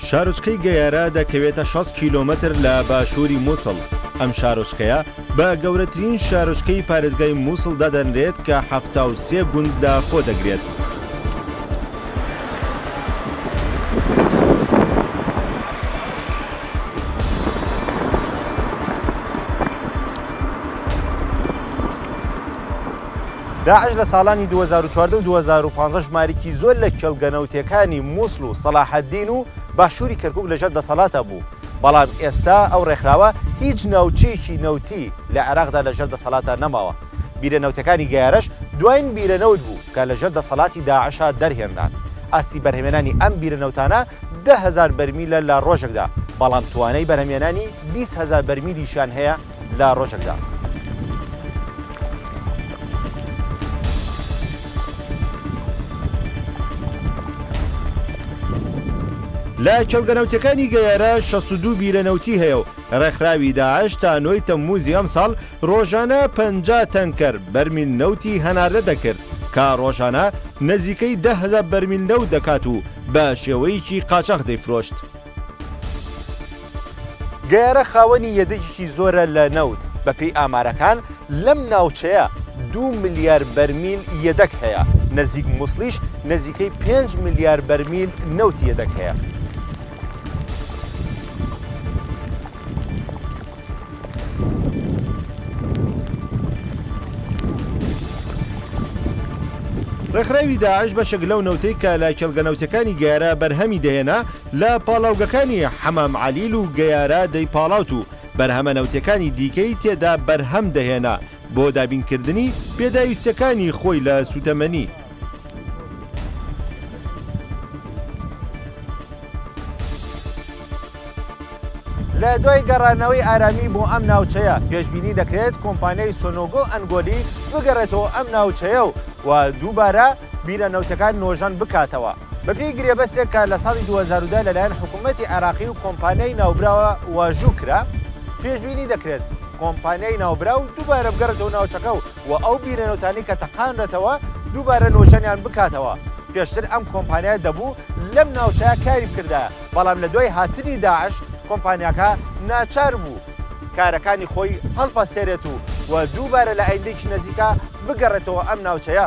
شارۆچکەی گەیارا دەکەوێتە شەست کیلۆمەتر لە باشووری مووسڵ، ئەم شارۆچکەیە بە گەورەترین شارۆچکەی پارێزگای مووسڵ دادەنرێت کە حەفتا و سێ گوند لە خۆ دەگرێت. داعش لە ساڵانی دوو هەزار و چواردە و دوو هەزار و پازدە ژمارێکی زۆر لە کێڵگە نەوتییەکانی مووسڵ و سەڵاحەدین و باشووری کەرکووک لەژێر دەسەڵاتا بوو، بەڵام ئێستا ئەو ڕێکخراوە هیچ ناوچەیەکی نەوتی لە عێراقدا لەژێر دەسەڵاتا نەماوە. بیرە نەوتەکانی گەیارەش دواین بیرە نەوت بوو کە لەژێر دەسەڵاتی داعشا دەرهێنران. ئاستی بەرهەمێنانی ئەم بیرە نەوتانە دە هەزار بەرمیلە لە ڕۆژێکدا، بەڵام توانای بەرهەمێنانی بیست هەزار بەرمیلیشیان هەیە، لە ڕۆژێکدا. لە کێڵگە نەوتیەکانی گەیارە شەست و دوو بیرە نەوتی هەیە و ڕێکخراوی داعش تا نۆی تەمموزی ئەمساڵ ڕۆژانە پەنجا تەنکەر بەرمیل نەوتی هەناردە دەکرد کە ڕۆژانە نزیکەی دە هەزار بەرمیل نەوت دەکات و بە شێوەیەکی قاچاخ دەیفرۆشت. گەیارە خاوەنی یەدەگێکی زۆرە لە نەوت، بەپێی ئامارەکان لەم ناوچەیە دوو ملیار بەرمیل یەدەگ هەیە، نزیک موسڵیش نزیکەی پێنج ملیار بەرمیل نەوتی یەدەگ هەیە. ڕێکخراوی داعش بەشێک لەو نەوتەی کە لە کێڵگە نەوتییەکانی گەیارا بەرهەمی دەهێنا لە پاڵاوگەکانی حەمام عەلیل و گەیارا دەیپاڵاوت و بەرهەمە نەوتییەکانی دیکەی تێدا بەرهەم دەهێنا بۆ دابینکردنی پێداویستییەکانی خۆی لە سووتەمەنی لە دوای گەڕانەوەی ئارامی بۆ ئەم ناوچەیە پێشببینی دەکرێت کۆمپانیای سۆنۆگۆ ئەنگۆلی بگەڕێتەوە ئەم ناوچەیە و و دووبارە بیرە نەوتەکان نۆژەن بکاتەوە بەپی گرێبەسێک کە لە ساڵی 2010 لەلایەن حکوومەتتی عێراقی و کۆمپانیای ناوبراوە واژوو کرا پێشببینی دەکرێت کۆمپانیای ناوبرا و دووبارە بگەڕێتەوە ناوچەکە و و ئەو بیرەنەوتانەی کە تەقاندرێتەوە دووبارە نۆژەنیان بکاتەوە، پێشتر ئەم کۆمپانیایە دەبوو لەم ناوچەیە کاری بکردایە، بەڵام لە دوای هاتنی داعش کۆمپانیاکە ناچار بوو کارەکانی خۆی هەڵپەسێرێت و دووبارە لە ئایندەیەکی نزیکا بگەڕێتەوە ئەم ناوچەیە.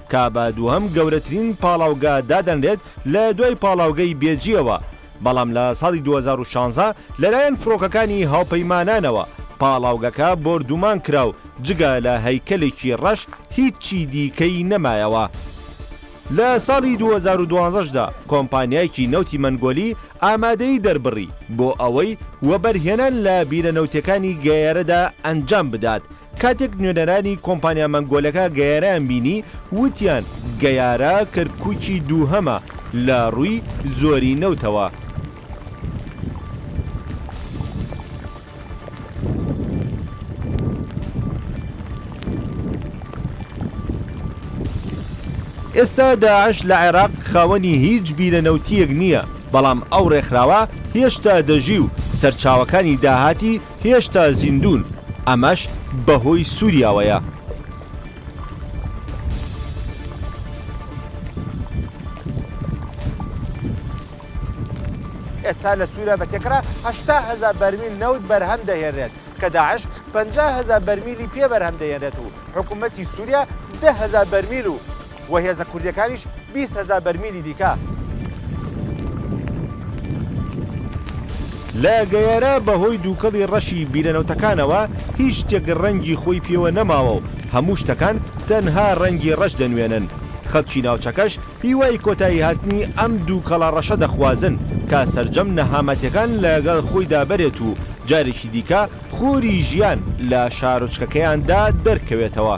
کابا دووهەم گەورەترین پاڵاوگە دادەنرێت لە دوای پاڵاوگەی بێجییەوە، بەڵام لە ساڵی دوو هەزار و شانزە لەلایەن فڕۆکەکانی هاوپەیمانانەوە پاڵاوگەکە بۆردوومان کرا و جگە لە هەیکەلێکی ڕەش هیچی دیکەی نەمایەوە. لە ساڵی دوو هەزار و دوازدە دا کۆمپانیایەکی نەوتی مەنگۆلی ئامادەیی دەربڕی بۆ ئەوەی وەبەرهێنان لە بیرە نەوتییەکانی گەیەرەدا ئەنجام بدات، کاتێک نوێنەرانی کۆمپانیا مەنگۆلەکە گەیارەیان بینی وتیان گەیارە کەرکوکی دووهەمە لە ڕووی زۆری نەوتەوە. ئێستا داعش لە عێراق خاوەنی هیچ بیرە نەوتییەک نییە، بەڵام ئەو ڕێکخراوە هێشتا دەژی و سەرچاوەکانی داهاتی هێشتا زیندوون ئەمەش بەهۆی سوریاوەیە. ئێستا لە سووریا بە تێکڕا هەشتا هەزار بەرمیل نەوت بەرهەم دەهێنرێت کە داعش پەنجا هەزار بەرمیلی پێ بەرهەم دەهێنرێت و حکوومەتی سووریا دە هەزار بەرمیل و و هێزە کوردییەکانیش بیست هەزار بەرمیلی دیکە. لە گەیارا بەهۆی دووکەڵی ڕەشی بیرە نەوتەکانەوە هیچ شتێک ڕەنگی خۆی پێوە نەماوە و هەموو شتەکان تەنها ڕەنگی ڕەش دەنوێنن، خەڵکی ناوچەکەش هیوای کۆتاییهاتنی ئەم دووکەڵە ڕەشە دەخوازن کە سەرجەم نەهامەتیەکان لەگەڵ خۆیدا بەرێت و جارێکی دیکە خوری ژیان لە شارۆچکەکەیاندا دەرکەوێتەوە.